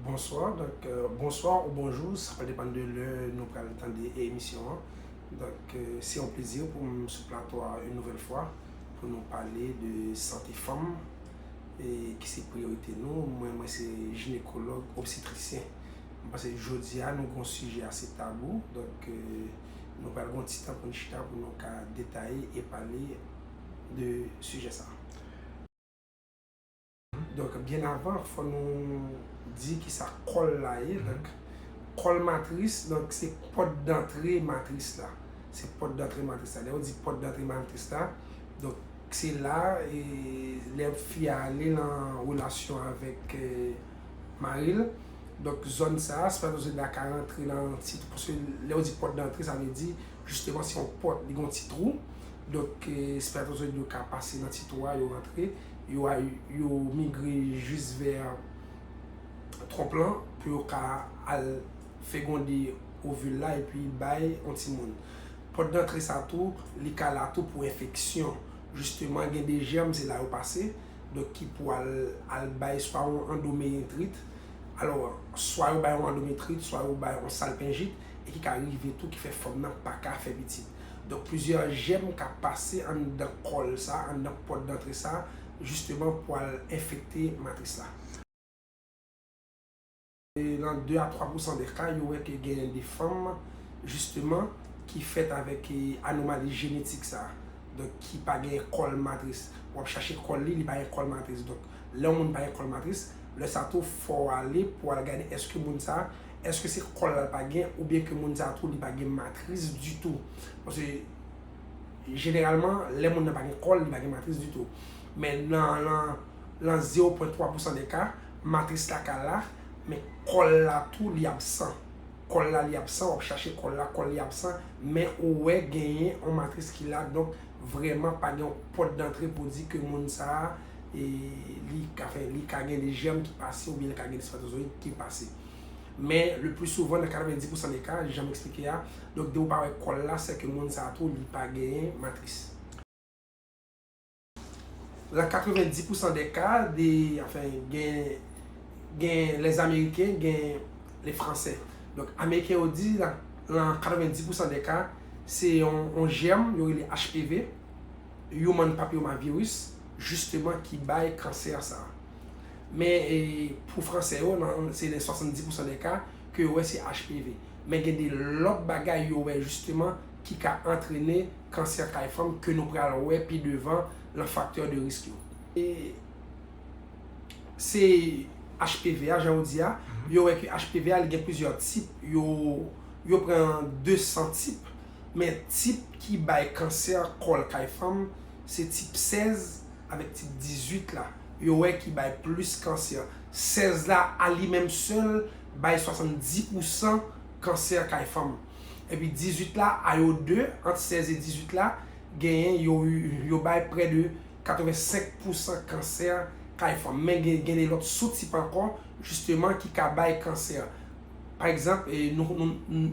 Bonswa, donk bonswa ou bonjou, sa pa depann de lè nou pral tande emisyon an. Donk se yon plezi pou m sou plato a yon nouvèl fwa pou nou pale de sante fanm e ki se priyorite nou. Mwen mwen se jinekològ obstetrisyen. M panse jodi a nou gon sijè ase tabou, donk nou pral gon ti tan pou nou chita pou nou ka detaye e pale de sijè sa. Donk byen avan fò nou di ki sa kòl la ye. Kòl matris donk se pòt dantre matris la. Se pòt dantre matris la. Lè yo di pòt dantre matris la, donk se la e lè fi a ale lan relasyon avèk mari l. Donk zòn sa a, se pa toujou la ka rantre lan yon ti twou. Paske lè yo di pòt dantre sa vle di jisteman se yon pòt, li gen yon ti twou. Donk se pa toujou yo ka pase lan ti twou a yo rantre. yo migre jis vè twonp lan pou yo ka al fegonde ovil la epi bay yon timoun. Pòt dantre sa tou, li ka la tou pou enfeksyon. Jisteman gen de jèm se la yo pase, donk ki pou al bay swa yon andomeritrit, alò swa yo bay yon andometrit, swa yo bay yon salpinjit e ki ka rive tou ki fè fanm nan pa ka fè pitit. Donk plizyè jèm ka pase anndan kòl sa, anndan pòt dantre sa, jisteman pou al enfekte matris la. Nan 2 a 3 pousan de ka, yo wè ke gen de fanm, jisteman, ki fèt avèk anomali jenetik sa. Donk ki pa gen kòl matris. Ou ap chache kòl li, li pa gen kòl matris. Donk lè yon moun pa gen kòl matris, lè sa tou fò w ale pou al gade èske moun sa. Eske se kòl la l pa gen oubyen ke moun sa tou li pa gen matris ditou? Paske jeneralman lè moun nan pa gen kòl li pa gen matris ditou. Men nan lan 0 pwen 3 pousan de ka, matris la ka la, men kòl la tou li absan. Kòl la li absan, w ap chache kòl la, kòl li absan, men ou wè genyen yon matris ki la donk vrèman pa gen yon pòt dantre pou di ke moun sa a. e li ka fè, li ka gen de jèm ki pase oubyen li ka gen de spatozoyid ki pase. Men, le pli souvan, nan 90 pousan de ka, jan m eksplike a, donk de ou pa wè kòl la, sè ke moun sa a tou li pa genyen matris. Lan 90 pousan de ka, de, anfen, gen, gen les Américains, gen les Français. Donk, Ameriken yo di, lan 90 pousan de ka, se yon, yon jèm, yo rele HPV. Human Papillomavirus, jisteman ki bay kansè sa. Men pou fransè yo nan se nan 70 pousan dè ka ke yo wè se HPV. Men gen de lòt bagay yo wè jisteman ki ka antrene kansè kay fanm ke nou pral wè pi devan lan faktè de risk yo. E se HPV a jan ou di a, yo wè ke HPV a li gen plizyè tip, yo pran 200 tip. Men tip ki bay kansè kòl kay fanm se tip 16 avèk tip 18 la yo wè ki bay plis kansè. 16 la a li menm sèl bay 70 pousan kansè kay fanm. Epi 18 la a yo 2, ant 16 e 18 la, genyen yo yo bay prè de 85 pousan kansè kay fanm. Men gen gen de lòt sou tip ankò jisteman ki ka bay kansè. Pa egzanp nou nou.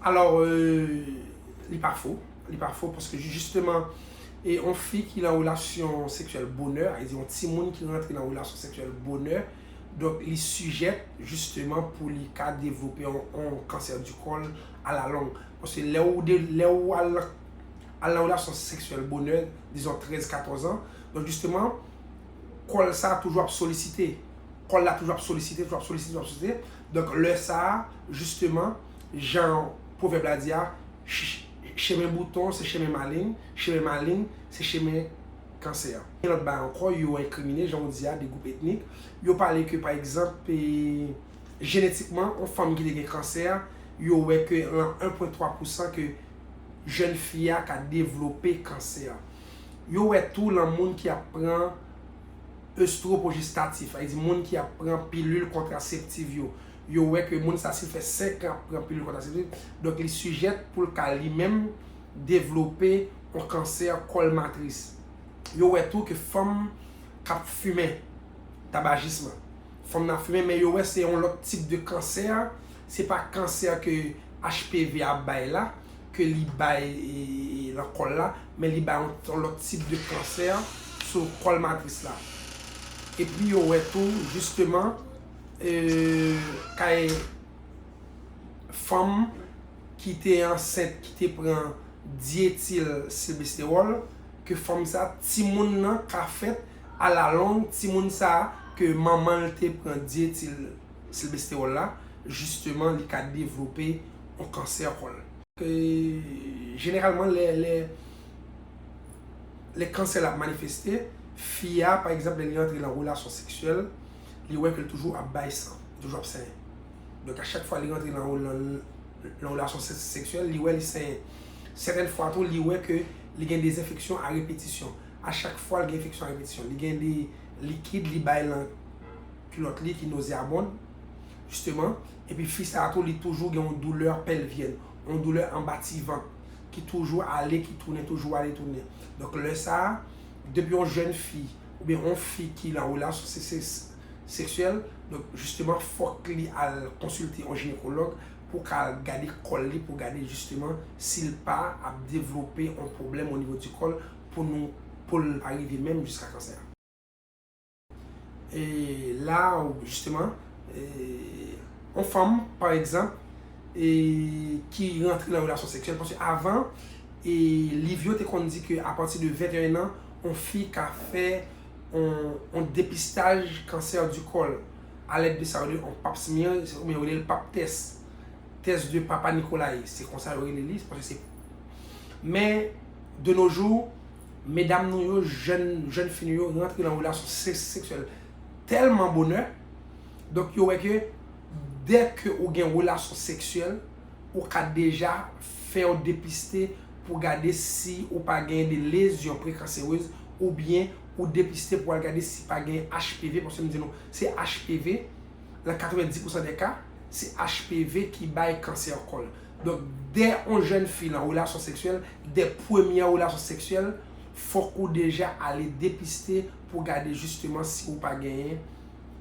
Alò li pa fo, li pa fo paske jisteman yon fi ki nan relasyon seksyèl bonè, a di yon timoun ki rantre nan relasyon seksyèl bonè, donk li sijèt jisteman pou li ka devlope yon kansè di kòl alalong. Paske lè ou al nan relasyon seksyèl bonè, dizon 13, 14 an, donk jisteman kòl sa toujou ap solisite, kòl la toujou ap solisite, toujou ap solisite, toujou ap solisite. Donk lè sa a, jisteman, jan pwovèb la di a, chemen bouton se chemen maleng, chemen maleng se chemen kansè. Gen lòt bagay ankò, yo enkrimine, jan ou di a, 2 gwoup etnik. Yo pale ke, pa egzanp, jenetikman, yon fanm ki te gen kansè, yo wè ke lan 1 pwen 3 pousan ke jèn fi a ka devlope kansè. Yo wè tou lan moun ki ap pran estwopojestatif, sa vle di moun ki ap pran pilil kontraseptiv yo, yo wè ke moun sa si l fè 5 an ap pran pilil kontraseptiv, donk li sijèt pou l ka li menm devlope yon kansè kòl matris. Yo wè tou ke fanm k ap fimen, tabajism, fanm nan ap fimen men yo wè se yon lòt tip de kansè, se pa kansè ke HPV a bay la. ke li bay lan kòl la, men li bay yon lòt tip de kansè sou kòl matris la. Epi yo wè tou jisteman kay fanm ki te ansent ki te pran dyetil silbestewòl ke fanm sa timoun nan ka fèt alalong timoun sa ke manman l te pran dyetil. silbesterol la jisteman li ka devlope yon kansè kòl. Jeneralman lè kansè la ap manifeste, fi a pa egzanp lè li antre nan relasyon seksyèl, li wè ke li toujou ap bay san, li toujou ap senyen. Donk a chak fwa li rantre nan yon relasyon seksyèl, li wè li senyen. Sèten fwa tou li wè ke li gen de enfeksyon a repetisyon. A chak fwa li gen enfeksyon a repetisyon, li gen de likid li bay lan. Kilòt li ki nozeabond, jisteman, epi fi sa a tou li toujou gen yon doulè pèlvyèn, yon doulè anba ti vant ki toujou ale ki tounen, toujou ale tounen. Donk lè sa a, depi yon jèn fi oubyen yon fi ki lan relasyon seksyèl, donk jisteman fòk li al konsilte yon jinekològ pou ka al gade kò l li pou gade jisteman si l pa ap devlope yon pwoblèm onivo di kò l pou nou pou l pa rive menm jiska kansè. la ou jisteman yon fanm pa egzanp ki rantre nan relasyon seksyèl paske avan liv yo te konn di ke apati de 21 an yon fi ka fè yon depistaj kansè di kòl alèd de sa yo rele yon pap smear ou byen yo rele l pap tès tès de papa Nikolay se konsa yo rele li men de no jou Medam nou yo, jèn, jèn fi nou yo rantre nan relasyon seksyèl tèlman bonè, donk yo wè ke dè ke ou gen relasyon seksyèl, ou ka deja fè yo depiste pou gade si ou pa genyen de lezyon prekanserez oubyen ou depiste pou al gade si pa genyen HPV, paske m di nou se HPV, nan 90 pousan dè ka, se HPV ki bay kansè kòl. Donk dè on jèn fi lan relasyon seksyèl, dè premyè relasyon seksyèl, fòk ou deja ale depiste pou gade jisteman si ou pa genyen,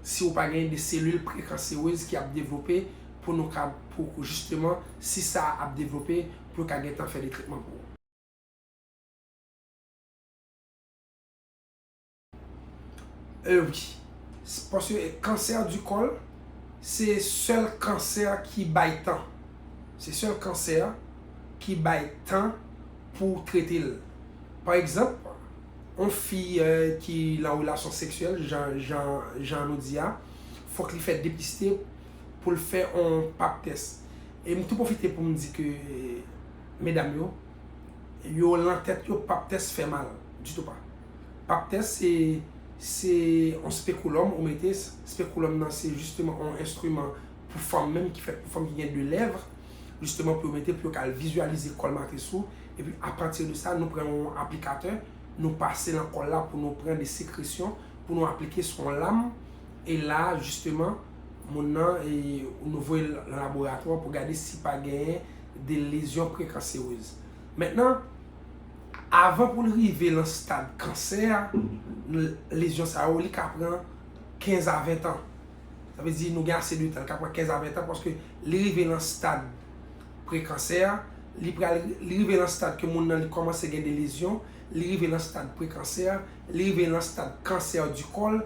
si ou pa genyen de selil prekanserez ki ap devlope pou nou ka, pou jisteman si sa a ap devlope pou yo ka gentan fè de tretman pou ou. Euh wi. Paske cancer du col se sèl cancer ki bay tan. Se sèl cancer ki bay tan pou trete l. Pa egzanp, yon fi ki lan relasyon seksyèl jan nou di a, fòk li fè depiste pou l fè yon pap tès. E m tou pwofite pou m di ke medam yo, yo lan tèt yo pap tès fè mal. Ditou pa. Pap tès se se yon spekulum ou mete, spekulum nan se jisteman yon enstriman pou fanm menm ki fèt pou fanm ki gen 2 lèv, jisteman pou yo mete pou yo ka al vizyalize kòl matris ou, epi apati de sa nou pran yon aplikatè nou pase nan kòl la pou nou pran de sekresyon pou nou aplike sou yon lam e la jisteman moun nan e nou voye l nan laboratwa pou gade si pa genyen de lezyon prekanserez. Mentnan, avan pou l rive lan stad kansè a, lezyon sa yo li ka pran 15 a 20 tan. Sa vle di nou gen ase de tan, li ka pran 15 a 20 tan paske li rive lan stad prekansè a, li pral, li rive lan stad ke moun nan li kòmanse gen de lezyon, li rive lan stad prekansè a, li rive lan stad kansè di kòl,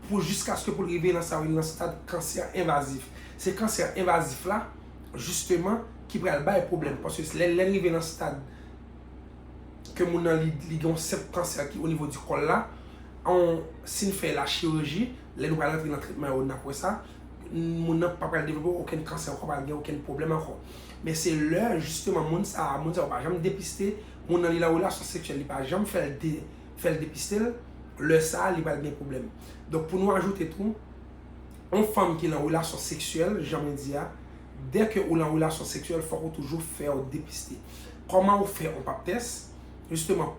pou jiskaske pou l rive lan sa yo rele lan stad kansè envazif. Se kansè envazif la jisteman ki pral bay pwoblèm. Paske lè n rive nan stad ke moun nan li gen yon senp kansè ki onivo di kòl la, si n fè lachiriji, lè nou pral rantre nan tretman yo n ap wè sa, moun nan pa pral devlope okenn kansè ankò, pa pral gen okenn pwoblèm ankò. Men se lè jisteman moun sa a, moun sa yo pa janm depiste, moun nan li nan relasyon seksyèl li pa janm fè l depiste l, lè sa a li pral gen pwoblèm. Donk pou nou ajoute tou. yon fanm ki lan relasyon seksyèl, jan mwen di a, dèke ou lan relasyon seksyèl fòk ou toujou fèw depiste. Kòman ou fè yon pap tès? Jisteman,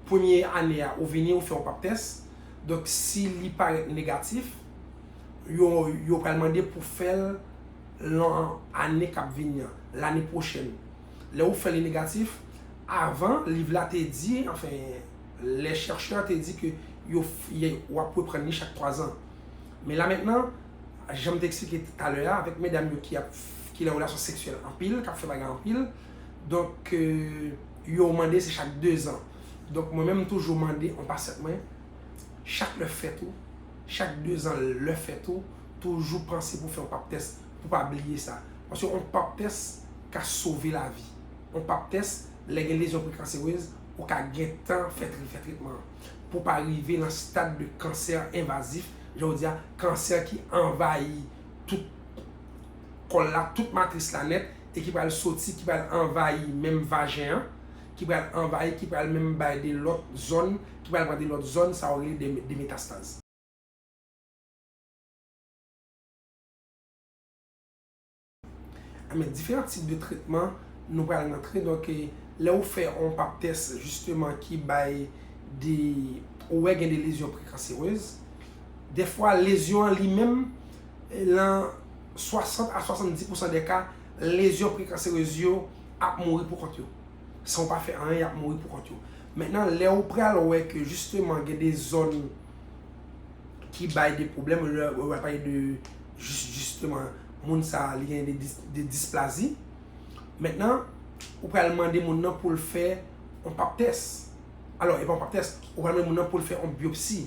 premye ane a ou vini ou fè yon pap tès, donk si li parèt negatif, yo yo pral mande pou fèl lan ane kap vini an, lane pwochèn. Lè ou fè li negatif, avan liv la te di, anfen, les chercheurs te di ke yo wap reprann li chak 3 ans. Men la mentnan, janm te eksplike talè a avèk medam yo ki ap ki nan relasyon seksyèl anpil, kap fè bagay anpil, donk yo mande se chak 2 ans. Donk mwen menm m toujou mande yon pasyant mwen, chak lè fèt ou, chak 2 ans lè fèt ou, toujou panse pou fè yon pap tès pou pa bliye sa. Paske yon pap tès ka sove lavi. Yon pap tès Lè gen lezyon prekanserez, ou ka gentan fè tretman an pou w pa rive nan stad de kansè envazif, jan yo di a, kansè ki anvayi tout kò l la, tout matris la nèt, e ki pral soti, ki pral anvayi menm vajen an, ki pral anvayi, ki pral menm bay de lòt zòn, ki pral pran de lòt zòn, sa yo rele de metastaz. a men diferan tip de tretman nou pral rantre donk lè ou fè yon pap tès jisteman ki bay de ou wè gen de lezyon prekanserez defwa lezyon an li menm lan 60 a 70 pousan de ka lezyon prekanserez yo ap mouri pou kont yo san ou pa fè anyen yap mouri pou kont yo mennen lè ou pral wè ke jisteman gen de zòn ki bay de pwoblèm ou wè pa e de jisteman moun sa li gen de displazi. Mentnan, ou pral mande moun nan poul fè yon pap tès. Alò, e pa yon pap tès, ou pral mande moun nan poul fè yon biopsi.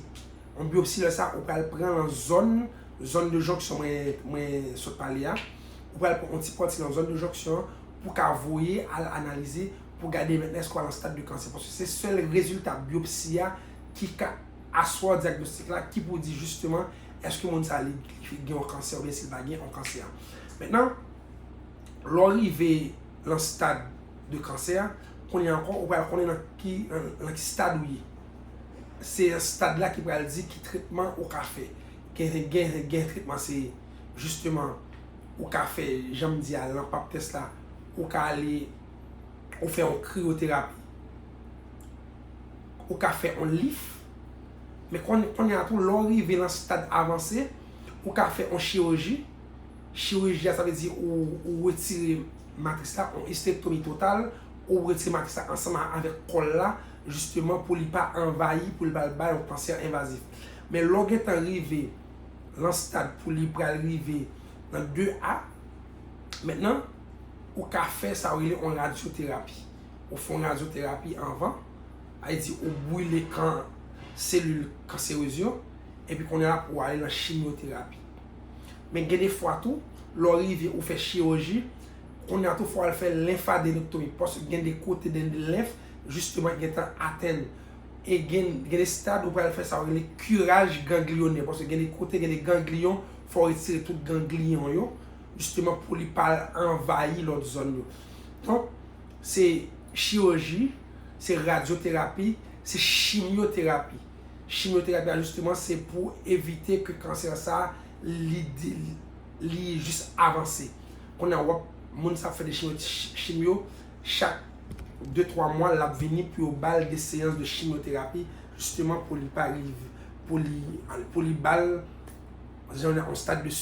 Yon biopsi lè sa, ou pral pran lan zòn, zòn de jonksyon mwen sot pale a. Ou pral pran yon ti pati lan zòn de jonksyon an pou ka voye al analize pou gade mentnan èske ou pa lan stad de kansè. Paske se sèl rezilta biopsi a ki ka aswa dyagnostik la ki pou di jisteman Eske moun sa li gen yon kansè oubyen si l pa gen yon kansè. Mentnan, lè w rive lan stad de kansè, kounye a ankò ou pral konnen lan ki stad ou ye. Se stad la ki pral di ki tretman ou ka fè. Gen tretman se jisteman ou ka fè jan m di a lan pap tès la, ou ka ale ou fè yon kriyoterapi, ou ka fè yon lif, Men kounye a tou lè w rive lan stad avanse, ou ka fè yon chiriji, chiriji a sa vle di ou retire matris la, yon istektomi total, ou retire matris la ansanm avèk kòl la, jisteman pou li pa anvayi, pou li pa al bay yon kansè envazif. Men lè w gen tan rive lan stad pou li pral rive nan 2 a, mentnan ou ka fè sa yo rele yon radyoterapi. Ou fè yon radyoterapi anvan. Ayiti ou bwile kan selil kanserez yo epi kounye a pou ale nan chimyoterapi. Men gen de fwa tou, lè w rive ou fè chiroji, kounye a tou fò al fè lenfadenektomi paske gen de kote gen de lenf jisteman ki gentan atenn e gen de stad ou pral fè sa yo rele kiraj gangliyonè paske gen de kote gen de gangliyon fò w retire tout gangliyon yo jisteman pou li pa al anvayi lòt zòn yo. Donk. Se chirurji, se radyoterapi, se chimyoterapi. Chimyoterapi a jisteman se pou evite ke kansè sa li jis avanse. Kounye a wap moun sa ap fè de chimyo, chak 2, 3 mwa lap vini pou yo bal de seyans de chimyoterapi jisteman pou li bal jan yon stad de.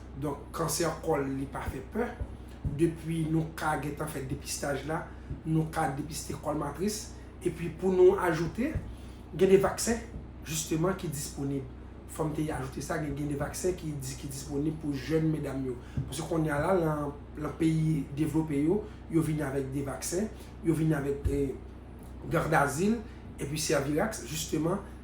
Donk kansè kòl li pa fè pè, depi nou ka gentan fè depistaj la, nou ka depiste kòl matris, epi pou nou ajoute, gen de vaksen jisteman ki disponib, fòm te ajoute sa, gen de vaksen ki disponib pou jèn medam yo, paske konnya la lan peyi devlope yo, yo vini avèk de vaksen, yo vini avèk gardazil, epi sèvilaks jisteman.